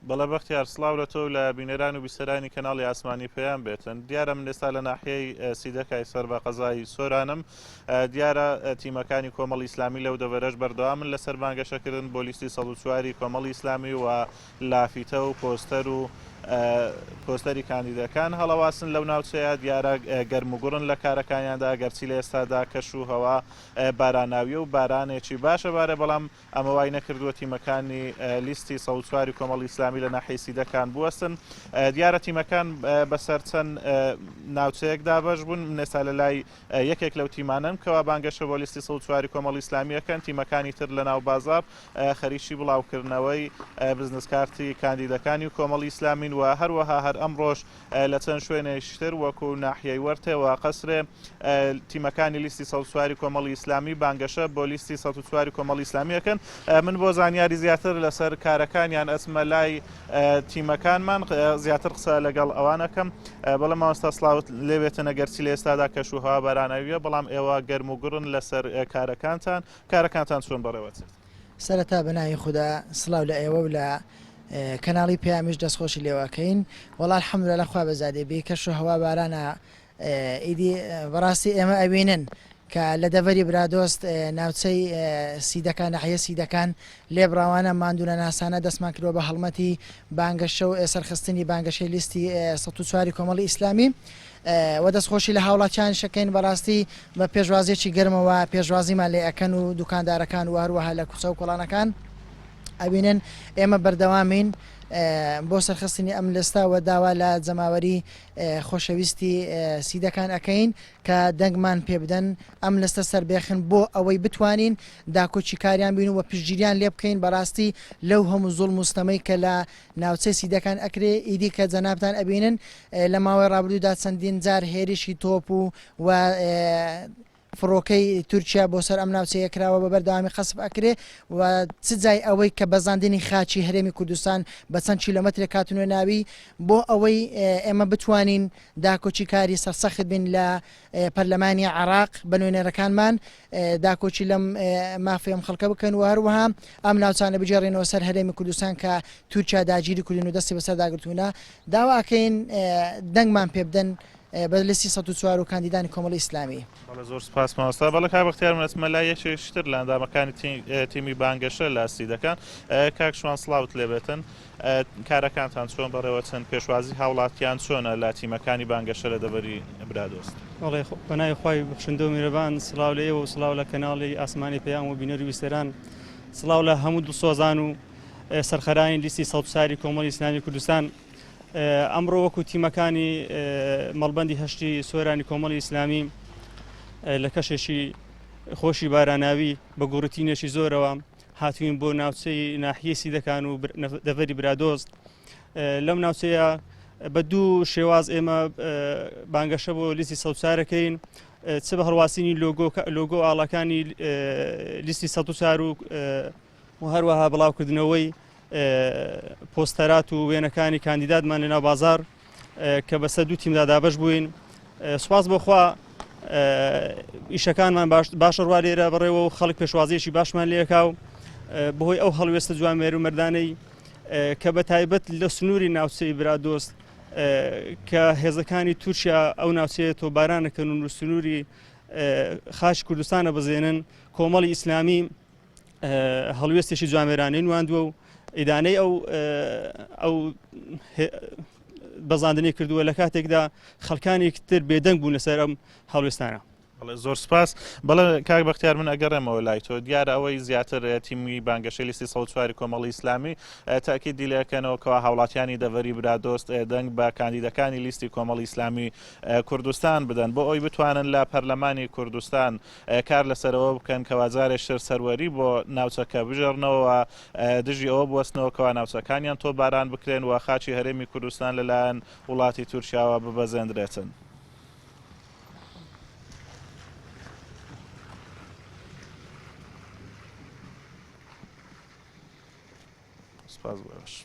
بەڵێ بەختیار سڵاو لە تۆ و لە بینەران و بیسەرانی کەناڵی ئاسمانی پەیام بێتن دیارە من ئێستا لە ناحیەی سیدەکای سەر بە قەزای سۆرانم دیارە تیمەکانی کۆمەڵی ئیسلامی لەو دەبەرەش بەردەوامن لەسەر بانگەشەکردن بۆ لیستی 1940 کۆمەڵی ئیسلامی و لافیتە و پۆستەر و پۆستەری کاندیدەکان هەڵەواسن لەو ناوچەیە دیارە گەرموگوڕن لە کارەکانیاندا گەرچی لە ئێستادا کەش و هەوا باراناویە و بارانێکی باشە بارە بەڵام ئەمە وای نەکردووە تیمەکانی لیستی سەد و چواری کۆمەڵی ئیسلامی لە ناحیەی سیدەکان بوەستن. دیارە تیمەکان بەسەر چەند ناوچەیەک دابەش بوون، من ئێستا لە لای یەکێک لەو تیمانەم کەوا بانگەشە بۆ لیستی سەد و چواری کۆمەڵی ئیسلامییەکەن، تیمەکانی تر لە ناو بازاڕ خەریکی بڵاوکردنەوەی بزنس کارتی کاندیدەکانی کۆمەڵی ئیسلامین و هەروەها هەر ئەمڕۆش لە چەند شوێنێکی تر وەکو ناحیەی وەرتێ و قەسرێ تیمەکانی لیستی سەد چواری کۆمەڵی ئیسلامی بانگەشە بۆ لیستی سە چواری کۆمەڵی ئیسلامی ئەکەن من بۆ زانیاری زیاتر لەسەر کارەکانیان ئەچمە لای تیمەکانمان زیاتر قسە لەگەڵ ئەوانەکەم بەڵام ماوەستا سلااوت لێبێتە نەگەرچی لە ئێستادا کەشوهوا باراناویە بەڵام ئێوە گەرم و گڕن لەسەر کارەکانتان کارەکانتان چۆن بەڕێوەچێت سەرەتا بەناوی خودا سڵاو لە ئێوە و لە کەناڵی پەیامیش دەست خۆشی لێواکەین وەڵا الحەمدللە لە خوا بەزادێ بێ کەش و هەوا بارانە ئیدی بەڕاستی ئێمە ئەوینن کە لە دەڤەری برادۆست ناوچەی سیدەکان ناحیە سیدەکان لێبڕاوانە ماندونە ناسانە دەستمان کردوە بە هەڵمەتی بانگەشە و سەرخستنی بانگەشەی لیستی 1940 کۆمەڵی ئیسلامی وە دەستخۆشی لە هاوڵاتیانیش ئەکەین بەڕاستی بە پێشوازیەکی گەرمەوە پێشوازیمان لێ ئەکەن و دوکاندارەکان و هەروەها لە کوچە و کۆڵانەکان ئەبینن ئێمە بەردەوامین بۆ سەرخستنی ئەم لەستا وە داوا لە جەماوەری خۆشەویستی سیدەکان ئەەکەین کە دەنگمان پێ بدەن ئەم لەستە سربێخن بۆ ئەوەی بتوانین داکۆچی کاریان بین و پشتگیریان لێ بکەین بەڕاستی لەو هەموو زۆڵ مستەمەی کە لە ناوچەی سیدەکان ئەکرێ ئیدی کە جەنابتان ئەبینن لە ماوەی ڕابردوودا چەندین جار هێرشی تۆپ و و فڕۆکەی تورکیا بۆ سەر ئەم ناوچەیە کراوە بە بەردەوامی قەسب ئەکرێ و چ جای ئەوەی کە بەزاندنی خاچی هەرێمی کوردستان بە چەند کیلومترێک کاتنوێ ناوی بۆ ئەوەی ئێمە بتوانین داکۆچی کاری سەرسەخت بین لە پەرلەمانی عراق بە نوێنەرەکانمان داکۆکی لەم مافی ئەم خەڵکە بکەن و هەروەها ئەم ناوچانە بگێڕینەوە سەر هەرێمی کوردستان کە تورکیا داگیری کردن و دەستی بەسەر داگرتوونە داواکەین دەنگمان پێ بدەن بە لسی 1940 و کاندیدانی کۆمەڵی ئیسلامی بەڵە زۆر سپاس ماوەستا بەڵە کا بەختیار منەتمە لا یەکێکتر لە ئەندامەکانی تیمی بانگەشە لاستی دەکەن کاک شوان سلااوت لێبێتن کارەکانتان چۆن بەڕێوەچن؟ پێشوازی هاوڵاتیان چۆنە لە تیمەکانی بانگەشە لە دەڤەری برادۆست؟ بەڵێ پەنای خوای بەخشندە و میرەبان سڵاو لە ئێوە و سڵاو لە کەناڵی ئاسمانی پەیام و بینەر و ویستەران سڵاو لە هەموو دڵسۆزان و سەرخەرانی لیستی سەڵبساری کۆمەڵی ئیسلامی کوردستان ئەمڕۆ وەکو تیمەکانی مەڵبەندی هەشتی سۆرانی کۆمەڵی ئیسلامی لە کەشێکی خۆشی باراناوی بە گوڕتینێکی زۆرەوە هاتووین بۆ ناوچەی ناحیەی سیدەکان و دەڤەری برادۆست لەم ناوچەیە بە دوو شێواز ئێمە بانگەشە بۆ لیستی سەوچارەکەین چ بە هەڵواسینی لۆگۆ ئاڵەکانی لیستی سە چار و و هەروەها بڵاوکردنەوەی پۆستەرات و وێنەکانی کاندیداتمان لەناو بازار کە بەسەر دوو تیمدا دابش بووین سوپاس بۆخوا ئیشەکانمان باشە ڕوا لێرە بڕێەوە و خەڵک پێشوازیشی باشمان لێکا و بەهۆی ئەو هەڵوێستە جوان مێر و مردانەی کە بە تایبەت لە سنووری ناوچەی برادۆست کە هێزەکانی تورکیا ئەو ناوچەیە تۆبارانەکەن و سنووری خاش کوردستانە بزێنن کۆمەڵی ئیسلامی هەڵوێستێکی جوامێرانەی نواندووە و ئیدانەی ئەو ئەو بەزاندنی کردووە لە کاتێکدا خەڵکانی تر بێدەنگ بوون لەسەر ئەم هەڵوێستانە زۆر سپاس بەڵێ کاک بەختیار من ئەگەڕێمەوە لای تۆ دیارە ئەوەی زیاتر تیمی بانگەشەی لیستی سەوتواری کۆمەڵی ئیسلامی تاکی دیلەکەنەوە کەوا هاوڵاتیانی دەڤەری برادۆست دەنگ بە کاندیدەکانی لیستی کۆمەڵی ئیسلامی کوردستان بدەن بۆ ئەوی بتوانن لە پەرلەمانی کوردستان کار لەسەر ئەوە بکەن کەوا جارێکتر سەروەری بۆ ناوچەکە بژێڕنەوە و دژی ئەوە بوەستنەوە کەوا ناوچەکانیان تۆپباران بکرێن و خاکی هەرێمی کوردستان لەلایەن وڵاتی تورکیاوە ببەزێندرێتن. سپاس بۆ ئێوەش.